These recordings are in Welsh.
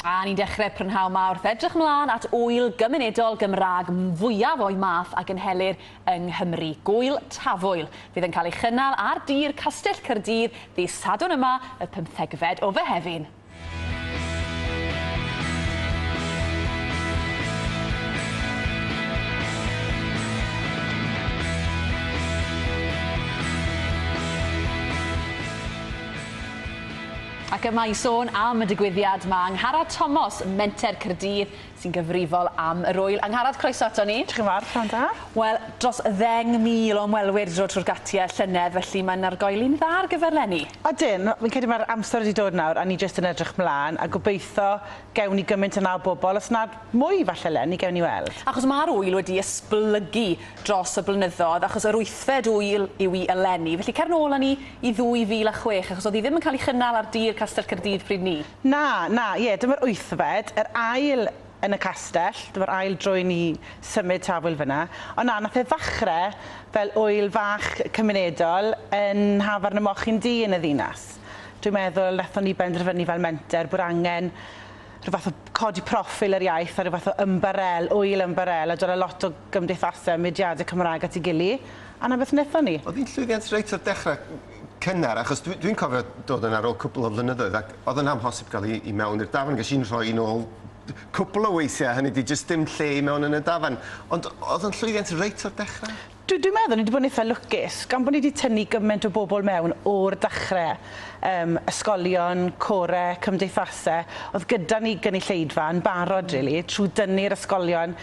A ni'n dechrau prynhawn ma wrth edrych mlaen at wyl gymunedol Gymraeg fwyaf o'i math a gynhelir yng Nghymru, Gwyl Tafwyl. Fydd yn cael ei chynnal ar dir Castell Cyrdydd ddydd Sadwrn yma, y pymthegfed o Fehefin. Ac yma i sôn am y digwyddiad, mae Angharad Tomos, Menter Caerdydd, sy'n gyfrifol am yr ŵyl. Angharad, croeso ato ni. Diolch yn fawr, pnawn da. Wel, dros ddeng mil o ymwelwyr wedi dod trwy'r gatiau llynedd, felly mae'n argoeli'n dda ar gyfer 'leni. Ydyn, fi'n credu mae'r amser wedi dod nawr a ni jyst yn edrych mlaen a gobeitho gewn ni gymaint yna o bobl, os nad mwy falle 'leni, gewn ni weld. Achos mae'r ŵyl wedi esblygu dros y blynyddoedd, achos yr wythfed ŵyl yw i eleni, felly cer nôl â ni i 2006, achos oedd hi ddim yn cael ei chynnal ar dir Castell Caerdydd pryd 'ny. Na, na, ie, dyma'r wythfed, yr ail yn y castell, dyma'r ail dro i ni symud tafwyl fan'na. Ond na, nath e ddachre fel ŵyl fach cymunedol yn nhafarn y Mochyn Du yn y ddinas. Dwi'n meddwl nathon ni benderfynu fel menter bod angen rhyw fath o codi proffil yr iaith a rhyw fath o ymbarél, ŵyl ymbarél, a dwala lot o gymdeithase a mudiade Cymraeg at 'i gily, a 'na beth nethon ni. O'dd 'i'n llwyddiant reit o'r dechre. cynnar, achos dwi, dwi'n cofio dod yn ar ôl cwbl o flynyddoedd ac oedd yn amhosib gael i, i mewn i'r dafan, ges i'n rhoi yn ôl cwbl o weithiau, hynny di jyst dim lle i mewn yn y dafan. Ond oedd yn llwyddiant reit o'r dechrau? Dwi, dwi'n meddwl ni wedi bod yn eitha lwcus, gan bod ni wedi tynnu gymaint o bobl mewn o'r dechrau, um, ysgolion, core, cymdeithasau, oedd gyda ni gynulleidfa yn barod, rili, really, trwy dynnu'r ysgolion,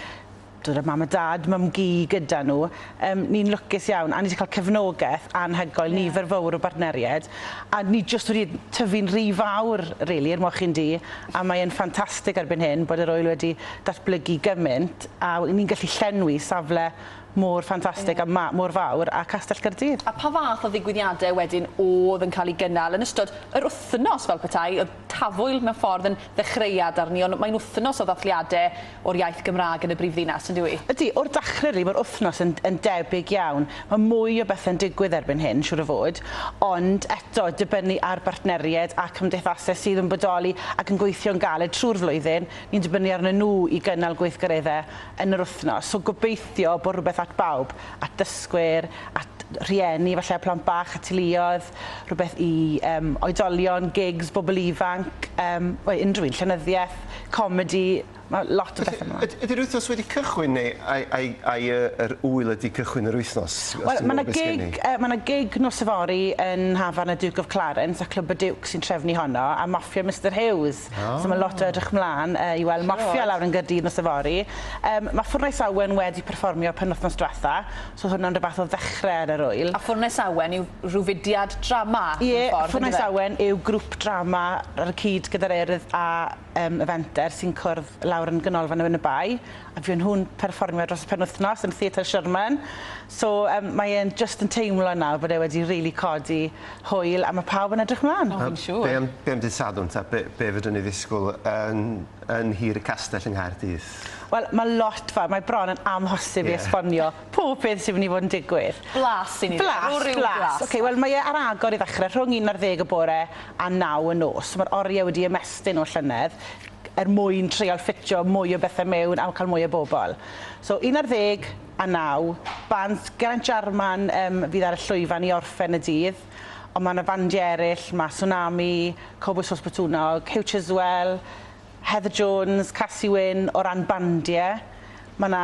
Doedd y mam a dad, mum-gu, gyda nhw. Yym, ni'n lwcus iawn, a ni 'di cael cefnogaeth anhygoel, nifer fawr o bartneriaid, a ni jyst wedi tyfu'n rhy fawr, rili, er moch un du, a mae e'n ffantastig erbyn hyn bod yr ŵyl wedi datblygu gymaint, a ni'n gallu llenwi safle mor ffantastig a ma-, mor fawr â Castell Caerdydd. A pa fath o ddigwyddiadau wedyn oedd yn cael eu gynnal yn ystod yr wythnos fel petai? Oedd Tafwyl mewn ffordd yn ddechreuad arni, ond mae'n wythnos o ddathliadau, o'r iaith Gymraeg yn y brifddinas, yn dyw 'i? Ydy, o'r dachre rili, ma'r wthnos yn yn debyg iawn. Ma' mwy o bethe'n digwydd erbyn hyn, siŵr o fod, ond eto, dibynnu ar bartneried a cymdeithase sydd yn bodoli ac yn gweithio'n galed trwy'r flwyddyn, ni'n dibynnu arnyn nhw i gynnal gweithgaredde yn yr wthnos. So gobeithio bo' rhywbeth at bawb, at dysgwyr, at rhieni falle â plant bach, at teuluoedd. rhywbeth i yym oedolion, gigs, bobl ifanc, yym wel unrhyw un, llenyddiaeth, comedi, ma' lot o bethe mlan. Felly yd- ydi'r wythnos wedi cychwyn neu ai ai ai yy yr ŵyl ydi cychwyn yr wythnos? Wel ma' 'na gig yy ma' 'na gig nos yfory yn Hafan y Duke of Clarence a Clwb y Diwcs sy'n trefnu honno a Mafia Mister Huws. O! So ma' lot o edrych mlan yy i weld Mafia lawr yn Gaerdydd nos yfory. Yym ma' Ffwrnais Awen wedi perfformio penwthnos dwetha. So hwnna'n rhyw fath o ddechre ar yr ŵyl. A Ffwrnes Awen yw rhyw fudiad drama mewn ffordd yndyfe? Ie, Ffwrnes Awen yw grwp drama ar y cyd gyda'r Urdd a yym y Fenter sy'n cwrdd lawr yn Ganolfan Ŵyn y Bae a fuon nhw'n perfformio dros y penwythnos yn Theatr Sherman. So yym mae e'n jyst yn teimlo nawr bod e wedi rili codi hwyl a ma' pawb yn edrych mlan. O fi'n siŵr. Be am be am dydd Sadwrn ta be be fedrwn ni ddisgwl yn yn Nhir y Castell yng Nghaerdydd? Wel, mae lot fawr, mae bron yn amhosib i esbonio pob peth sy'n mynd i fod yn digwydd. Blas sy'n mynd i fod, rhyw blas. Blas, blas. Ok, wel mae e ar agor i ddechrau rhwng un ar ddeg y bore a naw y nos. So mae'r oriau wedi ymestyn o'r llynedd er mwyn treial ffitio mwy o bethau mewn a cael mwy o bobl. So un ar ddeg a naw, band Geraint Jarman yym fydd ar y llwyfan i orffen y dydd, ond mae 'na fandiau eraill, mae Tsunami, Cowbois Sos Botwnnog, Huw Chiswell, Heather Jones, Casi Wyn, o ran bandiau, mae 'na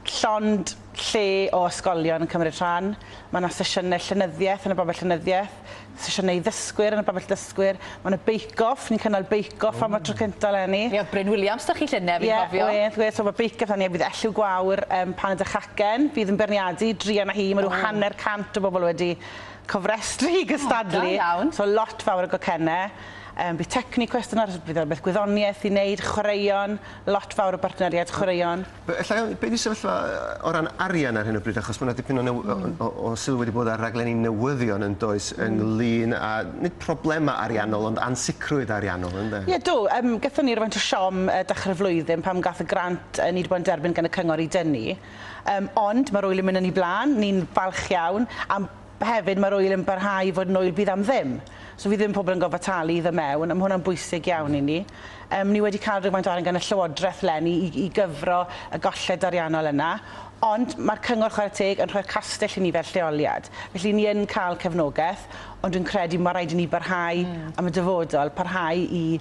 llond lle o ysgolion yn cymryd rhan, mae 'na sesiynau llenyddiaeth yn y Babell Llenyddiaeth, sesiynau i ddysgwyr yn y Babell Dysgwyr, mae 'na Bake Off, ni'n cynnal Bake Off am y tro cynta' eleni. Mi oedd Bryn Williams 'da chi llynedd, fi'n cofio. Ie, wedd, wedd, so ma' Bake Off 'da ni a bydd Elliw Gwawr yym Paned a Chacen fydd yn beirniadu, druan â hi, ma' rhyw hanner cant o bobl wedi cofrestru i gystadlu. O, da iawn. So lot fawr o gocenne. Yym bydd tecni cwestiwn ar bydd rhywbeth gwyddoniaeth i wneud, chwaraeon, lot fawr o bartneriaid chwaraeon. Be- ella iawn, be' 'di sefyllfa yy o ran arian ar hyn o bryd achos ma' 'na dipyn o new- o o o o sylw wedi bod ar raglenni newyddion yndoes ynglŷn â nid problema ariannol ond ansicrwydd ariannol ynde? Ie do, yym gaethon ni rywfaint o siom yy dechre'r flwyddyn pam gath y grant yy ni 'di bod yn derbyn gan y cyngor i dynnu yym ond ma'r wyl yn myn' yn 'i blan, ni'n falch iawn am Hefyd mae'r ŵyl yn parhau i fod yn ŵyl bydd am ddim. So fydd ddim pobl yn gorfod talu i ddod mewn a ma' hwnna'n bwysig iawn i ni. Yym ni wedi cael rhywfaint o arian gan y Llywodraeth leni i i gyfro y golled ariannol yna ond ma'r Cyngor chware teg yn rhoi'r castell i ni fel lleoliad. Felly ni yn cael cefnogaeth ond dwi'n credu ma' raid i ni barhau am y dyfodol, parhau i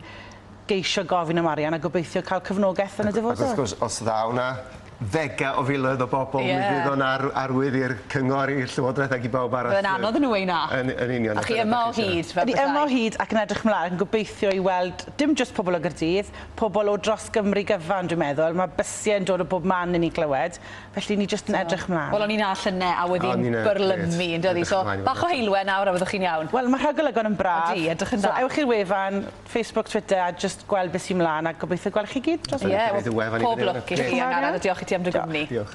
geisio gofyn am arian a gobeithio cael cyfnogaeth yn y dyfodol. Ac wrth gwrs os ddaw 'na ddega o filoedd o bobl mi fydd o'n ar- arwydd i'r cyngor i'r llywodraeth ag i bawb arall. Bydd e'n anodd i nw weu' na. Yn yn union. A chi yma o hyd fel petai. Ni yma o hyd ac yn edrych mlan gobeithio i weld dim jyst pobol o Gaerdydd, pobol o dros Gymru gyfan dwi'n meddwl, ma' bysie yn dod o bob man i ni glywed, felly ni jyst yn edrych mlan. Wel o'n ni'n 'na llyne a wedd 'i'n byrlymu yndoedd 'i so bach o heulwen nawr a fyddwch chi'n iawn. Wel ma' rhagolygon yn braf. Ydi edrych yn dda. So ewch i'r wefan Facebook, Twitter a jyst gweld be sy mlan a gobeithio gwel chi gyd dros y weekend. Ie, wel pob lwc i chi a Angharad a diolch i ti am dy gwmni. Diolch.